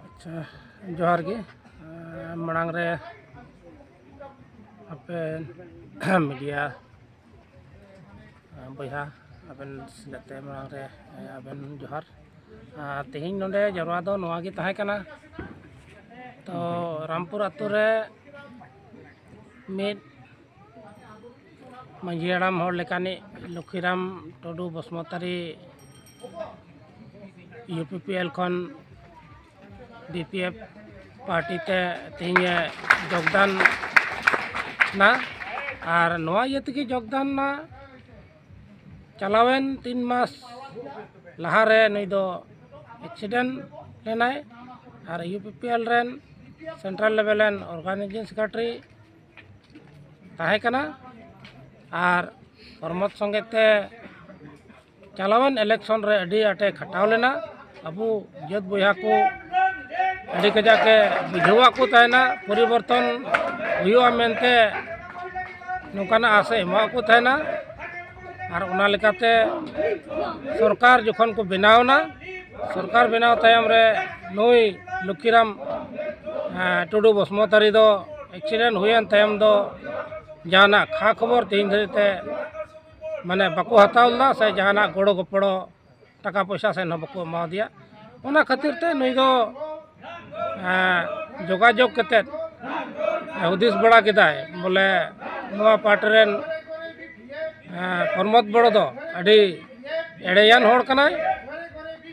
ᱟᱪᱪᱷᱟ ᱡᱚᱦᱟᱨ ᱜᱮ ᱢᱟᱲᱟᱝ ᱨᱮ ᱟᱯᱮ ᱢᱤᱰᱤᱭᱟ ᱵᱚᱭᱦᱟ ᱟᱵᱮᱱ ᱡᱟᱛᱮ ᱢᱟᱲᱟᱝ ᱨᱮ ᱟᱵᱮᱱ ᱡᱚᱦᱟᱨ ᱛᱮᱦᱮᱧ ᱱᱚᱰᱮ ᱡᱟᱣᱨᱟ ᱫᱚ ᱱᱚᱣᱟ ᱜᱮ ᱛᱟᱦᱮᱸ ᱠᱟᱱᱟ ᱛᱚ ᱨᱟᱢᱯᱩᱨ ᱟᱛᱳ ᱨᱮ ᱢᱤᱫ ᱢᱟᱹᱡᱷᱤ ᱦᱟᱲᱟᱢ ᱦᱚᱲ ᱞᱮᱠᱟᱱᱤᱡ Lakhiram Tudu Basumatary U P P L ᱠᱷᱚᱱ ᱵᱤ ᱯᱤ ᱮᱯᱷ ᱯᱟᱨᱴᱤ ᱛᱮ ᱛᱮᱦᱮᱧᱮ ᱡᱳᱜᱽᱫᱟᱱ ᱱᱟ ᱟᱨ ᱱᱚᱣᱟ ᱤᱭᱟᱹ ᱛᱮᱜᱮ ᱡᱳᱜᱽᱫᱟᱱ ᱱᱟ ᱪᱟᱞᱟᱣᱮᱱ ᱛᱤᱱ ᱢᱟᱥ ᱞᱟᱦᱟᱨᱮ ᱱᱩᱭ ᱫᱚ ᱮᱠᱥᱤᱰᱮᱱᱴ ᱞᱮᱱᱟᱭ ᱟᱨ ᱤᱭᱩ ᱯᱤ ᱯᱤ ᱮᱞ ᱨᱮᱱ ᱥᱮᱱᱴᱨᱟᱞ ᱞᱮᱵᱮᱞ ᱨᱮᱱ ᱚᱨᱜᱟᱱᱟᱭᱡᱤᱝ ᱥᱮᱠᱨᱮᱴᱟᱨᱤ ᱛᱟᱦᱮᱸ ᱠᱟᱱᱟ ᱟᱨ ᱯᱨᱚᱢᱳᱫᱽ ᱥᱚᱸᱜᱮ ᱛᱮ ᱪᱟᱞᱟᱣᱮᱱ ᱤᱞᱮᱠᱥᱚᱱ ᱨᱮ ᱟᱹᱰᱤ ᱟᱸᱴᱮ ᱠᱷᱟᱴᱟᱣ ᱞᱮᱱᱟ ᱟᱵᱚ ᱡᱟᱹᱛ ᱵᱚᱭᱦᱟ ᱠᱚ ᱟᱹᱰᱤ ᱠᱟᱡᱟᱠ ᱮ ᱵᱩᱡᱷᱟᱹᱣᱟᱫ ᱠᱚ ᱛᱟᱦᱮᱱᱟ ᱯᱚᱨᱤᱵᱚᱨᱛᱚᱱ ᱦᱩᱭᱩᱜᱼᱟ ᱢᱮᱱᱛᱮ ᱱᱚᱝᱠᱟᱱᱟᱜ ᱟᱥ ᱮ ᱮᱢᱟᱫ ᱠᱚ ᱛᱟᱦᱮᱱᱟ ᱟᱨ ᱚᱱᱟ ᱞᱮᱠᱟᱛᱮ ᱥᱚᱨᱠᱟᱨ ᱡᱚᱠᱷᱚᱱ ᱠᱚ ᱵᱮᱱᱟᱣ ᱮᱱᱟ ᱥᱚᱨᱠᱟᱨ ᱵᱮᱱᱟᱣ ᱛᱟᱭᱚᱢ ᱨᱮ ᱱᱩᱭ ᱞᱚᱠᱠᱷᱤᱨᱟᱢ ᱴᱩᱰᱩ ᱵᱚᱥᱢᱚᱛᱟᱨᱤ ᱫᱚ ᱮᱠᱥᱤᱰᱮᱱᱴ ᱦᱩᱭᱮᱱ ᱛᱟᱭᱚᱢ ᱫᱚ ᱡᱟᱦᱟᱱᱟᱜ ᱠᱷᱟ ᱠᱷᱚᱵᱚᱨ ᱛᱮᱦᱮᱧ ᱫᱷᱟᱹᱨᱤᱡ ᱛᱮ ᱢᱟᱱᱮ ᱵᱟᱠᱚ ᱦᱟᱛᱟᱣ ᱞᱮᱫᱟ ᱥᱮ ᱡᱟᱦᱟᱱᱟᱜ ᱜᱚᱲᱚ ᱜᱚᱯᱚᱲᱚ ᱴᱟᱠᱟ ᱯᱚᱭᱥᱟ ᱥᱮᱫ ᱦᱚᱸ ᱵᱟᱠᱚ ᱮᱢᱟ ᱫᱮᱭᱟ ᱚᱱᱟ ᱠᱷᱟᱹᱛᱤᱨ ᱛᱮ ᱱᱩᱭ ᱫᱚ ᱡᱳᱜᱟᱡᱳᱜᱽ ᱠᱟᱛᱮᱫ ᱦᱩᱫᱤᱥ ᱵᱟᱲᱟ ᱠᱮᱫᱟᱭ ᱵᱚᱞᱮ ᱱᱚᱣᱟ ᱯᱟᱨᱴᱤ ᱨᱮᱱ ᱯᱨᱚᱢᱳᱫᱽ ᱵᱚᱲᱚ ᱫᱚ ᱟᱹᱰᱤ ᱮᱲᱮᱭᱟᱱ ᱦᱚᱲ ᱠᱟᱱᱟᱭ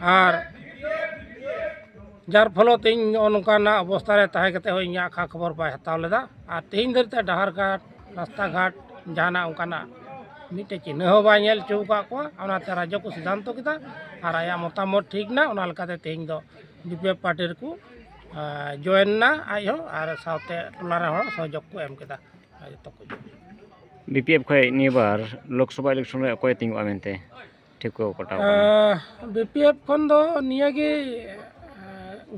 ᱟᱨ ᱡᱟᱨ ᱯᱷᱚᱞᱮ ᱛᱮ ᱤᱧ ᱱᱚᱜᱼᱚ ᱱᱚᱝᱠᱟᱱᱟᱜ ᱚᱵᱚᱥᱛᱷᱟ ᱨᱮ ᱛᱟᱦᱮᱸ ᱠᱟᱛᱮᱫ ᱦᱚᱸ ᱤᱧᱟᱹᱜ ᱠᱷᱟ ᱠᱷᱚᱵᱚᱨ ᱵᱟᱭ ᱦᱟᱛᱟᱣ ᱞᱮᱫᱟ ᱟᱨ ᱛᱮᱦᱮᱧ ᱫᱷᱟᱹᱨᱤᱡ ᱛᱮ ᱰᱟᱦᱟᱨ ᱜᱷᱟᱴ ᱨᱟᱥᱛᱟ ᱜᱷᱟᱴ ᱡᱟᱦᱟᱱᱟᱜ ᱚᱱᱠᱟᱱᱟᱜ ᱢᱤᱫᱴᱮᱱ ᱪᱤᱱᱦᱟᱹ ᱦᱚᱸ ᱵᱟᱭ ᱧᱮᱞ ᱦᱚᱪᱚ ᱟᱠᱟᱫ ᱠᱚᱣᱟ ᱚᱱᱟᱛᱮ ᱨᱟᱡᱽᱡᱚ ᱠᱚ ᱥᱤᱫᱽᱫᱷᱟᱱᱛᱚ ᱠᱮᱫᱟ ᱟᱨ ᱟᱭᱟᱜ ᱢᱚᱛᱟᱢᱚᱛ ᱴᱷᱤᱠ ᱮᱱᱟ ᱚᱱᱟ ᱞᱮᱠᱟᱛᱮ ᱛᱮᱦᱮᱧ ᱫᱚ ᱵᱤ ᱯᱤ ᱮᱯᱷ ᱯᱟᱨᱴᱤ ᱨᱮᱠᱚ ᱡᱚᱭᱮᱱ ᱮᱱᱟ ᱟᱡ ᱦᱚᱸ ᱟᱨ ᱥᱟᱶᱛᱮ ᱴᱚᱞᱟ ᱨᱮᱱ ᱦᱚᱲ ᱥᱚᱦᱚᱡᱳᱜᱽ ᱠᱚ ᱮᱢ ᱠᱮᱫᱟ ᱡᱚᱛᱚ ᱠᱚ ᱵᱤ ᱯᱤ ᱮᱯᱷ ᱠᱷᱚᱱ ᱱᱤᱭᱟᱹ ᱵᱟᱨ ᱞᱳᱠᱥᱚᱵᱷᱟ ᱤᱞᱮᱠᱥᱚᱱ ᱨᱮ ᱚᱠᱚᱭᱮ ᱛᱤᱸᱜᱩᱜᱼᱟ ᱢᱮᱱᱛᱮ ᱴᱷᱤᱠᱟᱹ ᱠᱟᱴᱟᱣ ᱠᱟᱱᱟ ᱵᱤ ᱯᱤ ᱮᱯᱷ ᱠᱷᱚᱱ ᱫᱚ ᱱᱤᱭᱟᱹᱜᱮ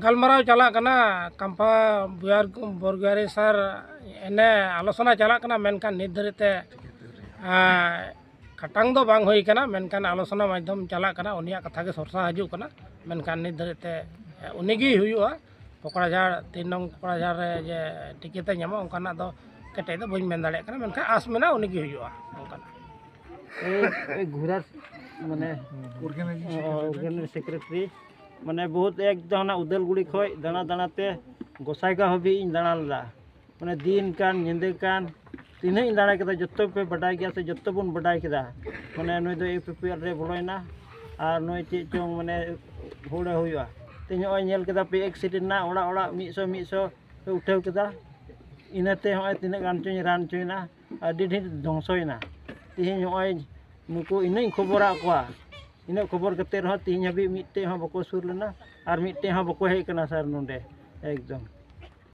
ᱜᱟᱞᱢᱟᱨᱟᱣ ᱪᱟᱞᱟᱜ ᱠᱟᱱᱟ ᱠᱟᱢᱯᱷᱟ ᱵᱚᱨᱜᱟᱨᱤ ᱥᱟᱨ ᱮᱱᱮ ᱟᱞᱳᱪᱚᱱᱟ ᱪᱟᱞᱟᱜ ᱠᱟᱱᱟ ᱢᱮᱱᱠᱷᱟᱱ ᱱᱤᱛ ᱫᱷᱟᱹᱨᱤᱡ ᱛᱮ ᱠᱷᱟᱴᱟᱝ ᱫᱚ ᱵᱟᱝ ᱦᱩᱭ ᱠᱟᱱᱟ ᱢᱮᱱᱠᱷᱟᱱ ᱟᱞᱳᱪᱚᱱᱟ ᱢᱟᱫᱽᱫᱷᱚᱢ ᱪᱟᱞᱟᱜ ᱠᱟᱱᱟ ᱩᱱᱤᱭᱟᱜ ᱠᱟᱛᱷᱟ ᱜᱮ ᱥᱚᱨᱥᱟ ᱦᱤᱡᱩᱜ ᱠᱟᱱᱟ ᱢᱮᱱᱠᱷᱟᱱ ᱱᱤᱛ ᱫᱷᱟᱹᱨᱤᱡ ᱛᱮ ᱩᱱᱤᱜᱮᱭ ᱦᱩᱭᱩᱜᱼᱟ ᱠᱚᱠᱲᱟᱡᱷᱟᱲ ᱛᱤᱱ ᱱᱚᱝ ᱠᱚᱠᱲᱟᱡᱷᱟᱲ ᱨᱮ ᱡᱮ ᱴᱤᱠᱤᱴ ᱮ ᱧᱟᱢᱟ ᱚᱱᱠᱟᱱᱟᱜ ᱫᱚ ᱠᱮᱴᱮᱡ ᱫᱚ ᱵᱟᱹᱧ ᱢᱮᱱ ᱫᱟᱲᱮᱭᱟᱜ ᱠᱟᱱᱟ ᱢᱮᱱᱠᱷᱟᱱ ᱟᱸᱥ ᱢᱮᱱᱟᱜᱼᱟ ᱩᱱᱤᱜᱮ ᱦᱩᱭᱩᱜᱼᱟ ᱚᱱᱠᱟᱱᱟᱜ ᱜᱷᱩᱨᱟ ᱢᱟᱱᱮ ᱚᱨᱜᱟᱱᱤᱡ ᱥᱮᱠᱨᱮᱴᱟᱨᱤ ᱢᱟᱱᱮ ᱵᱚᱦᱩᱛ ᱮᱠ ᱫᱚ ᱦᱟᱱᱟ ᱩᱫᱟᱹᱞᱜᱩᱲᱤ ᱠᱷᱚᱱ ᱫᱟᱬᱟ ᱫᱟᱬᱟᱛᱮ ᱜᱚᱸᱥᱟᱭᱜᱟᱶ ᱦᱟᱹᱵᱤᱡ ᱤᱧ ᱫᱟᱬᱟ ᱞᱮᱫᱟ ᱢᱟᱱᱮ ᱫᱤᱱ ᱠᱟᱱ ᱧᱤᱫᱟᱹ ᱠᱟᱱ ᱛᱤᱱᱟᱹᱜ ᱤᱧ ᱫᱟᱲᱟ ᱠᱮᱫᱟ ᱡᱚᱛᱚ ᱯᱮ ᱵᱟᱰᱟᱭ ᱜᱮᱭᱟ ᱥᱮ ᱡᱚᱛᱚ ᱵᱚᱱ ᱵᱟᱰᱟᱭ ᱠᱮᱫᱟ ᱢᱟᱱᱮ ᱱᱩᱭ ᱫᱚ ᱤᱭᱩ ᱯᱤ ᱯᱤ ᱮᱞ ᱨᱮ ᱵᱚᱞᱚᱭᱮᱱᱟ ᱟᱨ ᱱᱩᱭ ᱪᱮᱫ ᱪᱚᱝ ᱢᱟᱱᱮ ᱦᱩᱲᱟᱹ ᱦᱩᱭᱩᱜᱼᱟ ᱛᱮᱦᱮᱧ ᱱᱚᱜᱼᱚᱭ ᱧᱮᱞ ᱠᱮᱫᱟ ᱯᱮ ᱮᱠᱥᱤᱰᱮᱱᱴ ᱮᱱᱟ ᱚᱲᱟᱜ ᱚᱲᱟᱜ ᱢᱤᱫ ᱥᱚ ᱢᱤᱫ ᱥᱚ ᱯᱮ ᱩᱴᱷᱟᱹᱣ ᱠᱮᱫᱟ ᱤᱱᱟᱹᱛᱮ ᱱᱚᱜᱼᱚᱭ ᱛᱤᱱᱟᱹᱜ ᱜᱟᱱ ᱪᱚᱧ ᱨᱟᱱ ᱦᱚᱪᱚᱭᱮᱱᱟ ᱟᱹᱰᱤ ᱰᱷᱮᱨ ᱫᱷᱚᱝᱥᱚᱭᱮᱱᱟ ᱛᱮᱦᱮᱧ ᱱᱚᱜᱼᱚᱭ ᱱᱩᱠᱩ ᱤᱱᱟᱹᱜ ᱤᱧ ᱠᱷᱚᱵᱚᱨᱟᱫ ᱠᱚᱣᱟ ᱤᱱᱟᱹᱜ ᱠᱷᱚᱵᱚᱨ ᱠᱟᱛᱮᱫ ᱨᱮᱦᱚᱸ ᱛᱮᱦᱮᱧ ᱦᱟᱹᱵᱤᱡ ᱢᱤᱫᱴᱮᱱ ᱦᱚᱸ ᱵᱟᱠᱚ ᱥᱩᱨ ᱞᱮᱱᱟ ᱟᱨ ᱢᱤᱫᱴᱮᱱ ᱦᱚᱸ ᱵᱟᱠᱚ ᱦᱮᱡ ᱠᱟᱱᱟ ᱥᱟᱨ ᱱᱚᱰᱮ ᱮᱠᱫᱚᱢ